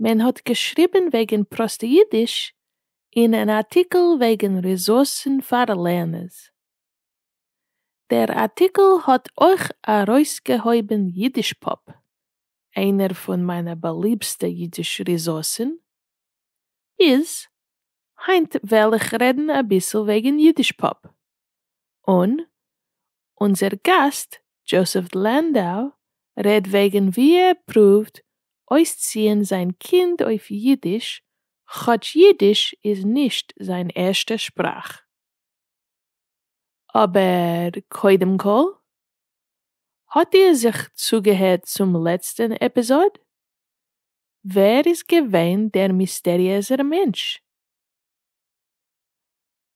מען האט געשריבן וועגן פראסטע אידיש אין אן ארטיקל וועגן ריזארסן פאר לערנערס. דער ארטיקל האט אויך ארויסגעהויבן יידישפאפ, איינער פון מיינע באליבסטע אידיש ריזארסן. איז, היינט וועל איך רעדן אביסל וועגן יידישפאפ. און אונזער גאסט דזשאסעף לענדאו רעדט וועגן ווי ער פרואווט אויסציען זיין קינד אויף אידיש כאטש אידיש איז נישט זיין ערשטע שפראך. אבער קודם כל, האט איר זיך צוגעהערט צום לעצטן עפיזאד? ווער איז געווען דער מיסטעריעזער מענטש?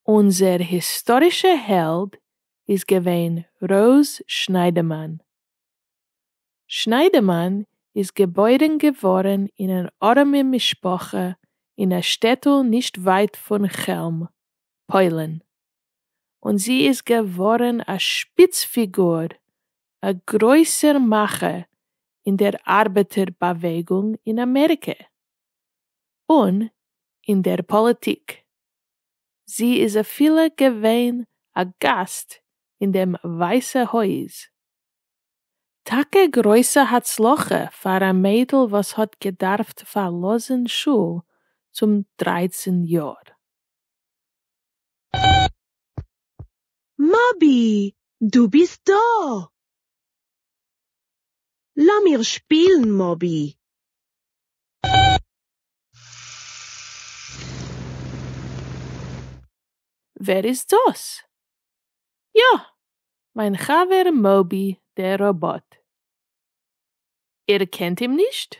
אונזער היסטארישע העלד איז געווען ר' שניידמאן. שניידמאן איז געבוירן געווארן אין אן ארעמע משפחה אין א שטעטל נישט ווייט פון כעלם, פוילן, און זי איז געווארן א שפיץ פיגור, א גרויסער מאכער אין דער ארבעטער באוועגונג אין אמעריקע, און אין דער פאליטיק. זי איז אפילו געווען א גאסט אין דעם ווייסע הויז. טאקע גרויסע הצלחה פאר א מיידל וואס האט געדארפט פארלאזן שול צום דרייצן יאר. מאבי, דו ביסט דא! לאמיר שפילן מאבי. ווער איז דאס? יא! מיין חבר מאובי דער ראבאט. איר קענט אים נישט?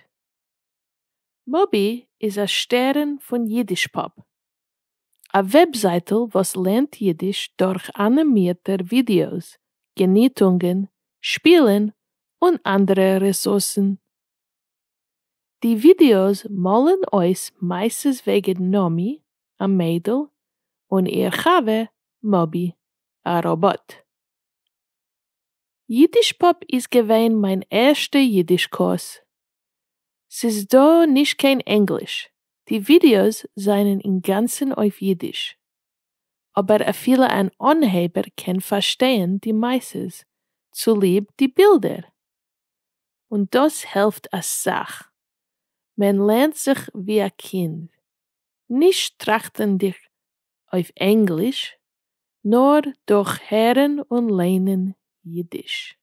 מאובי איז א שטערן פון יידישפאפ, א וועבזייטל וואס לערנט יידיש דורך אנימירטע ווידעאס, געניטונגען, שפילן און אנדערע רעסורסן. די ווידיאוס מאלן אויס מעשות וועגן נעמי, א מיידל, און איר חבר מאבי, א ראבאט. יידישפאפ איז געווען מיין ערשטע יידיש קורס. ס'איז דא נישט קיין ענגליש, די ווידיאוס זענען אינגאנצן אויף יידיש. אבער אפילו אן אנהייבער קען פארשטייען די מעשות צוליב די בילדער. און דאס העלפט אסאך, מען לערנט זיך ווי א קינד, נישט טראכטענדיג אויף ענגליש, נאר דורך הערן און ליינען אידיש.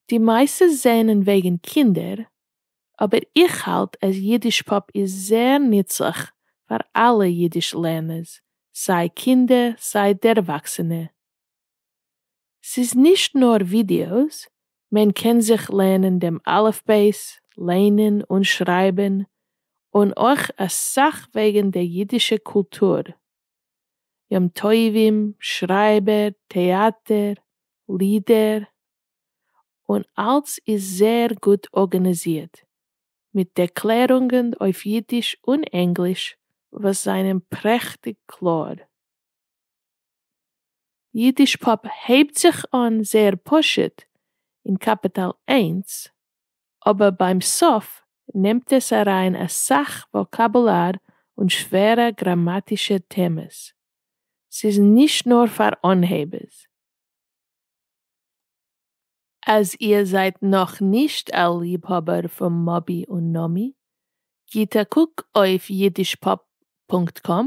די מעשות זענען וועגן קינדער, אבער איך האלט אז אידישפאפ איז זעהר נוצליך פאר אלע אידיש לערנערס, סיי קינדער סיי דערוואקסענע, ס'איז נישט נאר ווידיאוס, מען קען זיך לערנען דעם אלף בית, ליינען און שרייבען, און אויך אסאך וועגען דער אידישע קולטור, יום טובים, שרייבער, טעאטער, לידער, און אלץ איז זעהר גוט ארגענעזירט, מיט דעקלערונגען אויף אידיש און ענגליש וואס זענען פרעכטיג קלאר. אידיש פאפ הייבט זיך אן זייער פשוט אין קאפיטאל איינס, אבער ביים סוף נעמט עס אריין אסאך וואקאבולאר און שווערע גראמאטישע טעמעס. ס'איז נישט נאר פאר אנהייבערס. אז איר זייט נאכנישט א ליבהאבער פון מאבי און נאמי, גיט א קוק אויף יידיש פאפ פונקט קאם,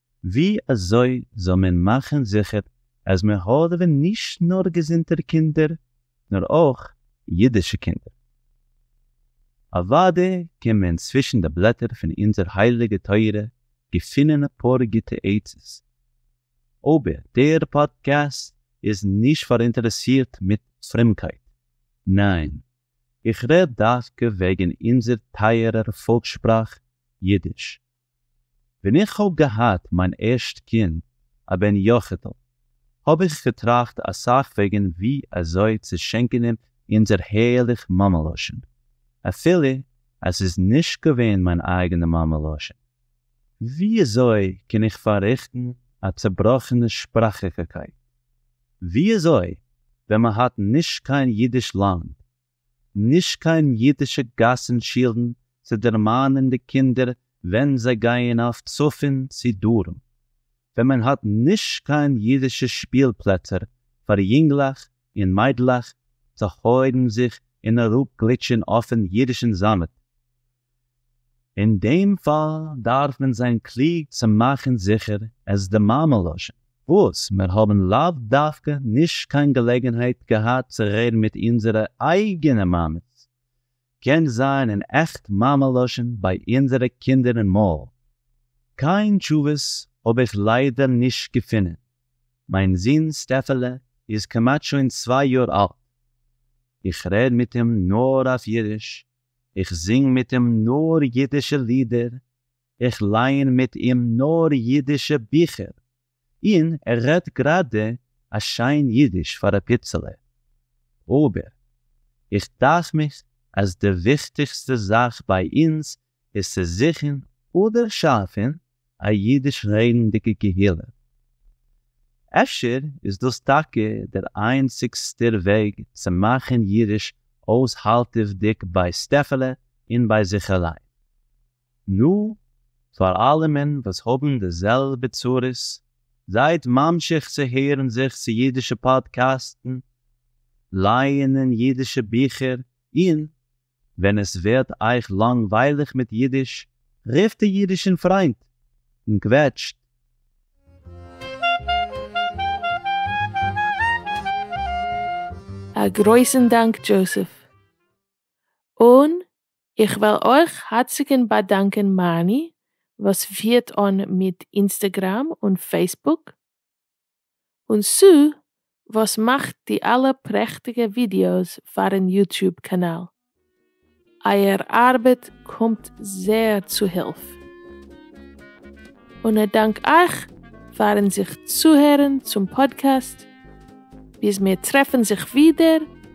ווי אזוי זאל מען מאכן זיכער אז מען האדעווען נישט נאר געזונטע קינדער נאר אויך אידישע קינדער? אוודאי קען מען צווישן די בלעטער פון אונזער הייליגע תורה געפינען אפאר גוטע עצות, אבער דער פאדקעסט איז נישט פאראינטערעסירט מיט פרומקייט, ניין, איך רעד דווקא וועגן אונזער טייערער פאלקס-שפראך אידיש. ווען איך האב געהאט מיין ערשט קינד א בן יחיד'ל האב איך געטראכט אסאך וועגן ווי אזוי צו שענקען אים אונזער הערליך מאמע לשון, אפילו אז ס'איז נישט געווען מיין אייגענע מאמע לשון. ווי אזוי קען איך פאררעכטן א צעבראכענע שפראכיגקייט? ווי אזוי ווען מ'האט נישט קיין אידיש לאנד נישט קיין אידישע גאסן שילן צו דערמאנען די קינדער ווען זיי גייען אויף צפון צו דרום, ווען מען האט נישט קיין אידישע שפיל פלעצער פאר יונגלעך און מיידלעך צו הויבן זיך און אראפ גליטשען אויפן אידישן זאמד, אין דעם פאל דארף מען זיין קלוג צו מאכן זיכער עס די מאמע לשון, וואס מיר האבן לאו דווקא נישט קיין געלעגנהייט געהאט צו רעדן מיט אונזערע אייגענע מאמעס, קען זיין אין עכט מאמע לשון ביי אונזערע קינדער אין מויל. קיין תשובות האב איך ליידער נישט געפונען, מיין זון סטעפעלע איז כמעט שוין צוויי יאר אלט, איך רעד מיט אים נאר אויף אידיש איך זינג מיט אים נאר אידישע לידער, איך לייען מיט אים נאר אידישע ביכער, און ער רעדט גראדע א שיין אידיש פאר א פיצעלע. אבער, איך דאכט מיך אז די וויכטיגסטע זאך ביי אונז איז צו זוכן אדער שאפן א אידיש רעדנדיגע קהילה. אפשר איז דאס טאקע דער איינציגסטער וועג צו מאכן אידיש אויסהאלטעוודיג ביי סטעפעלע און ביי זיך אליין. נו, פאר אלעמען וואס האבן די זעלבע צרות, זייט ממשיך צו הערן זיך צו אידישע פאדקעסטן, לייענען אידישע ביכער און ווען עס ווערט אייך לאנגווייליך מיט אידיש, רופט די אידישן פריינט און קוועטשט. א גרויסן דאנק דזשאוסעף. און איך וויל אויך הארציגן באדאנקען מארני וואס פירט אן מיט אינסטעגראם און פעיסבוק. און סא וואס מאכט די אלע פרעכטיגע ווידיאוס פארן יוטוב קאנאל? אייער ארבעט קומט זעהר צו הילף. און א דאנק אייך פארן זיך צוהערן צום פאדקעסט, ביז מיר טרעפן זיך ווידער,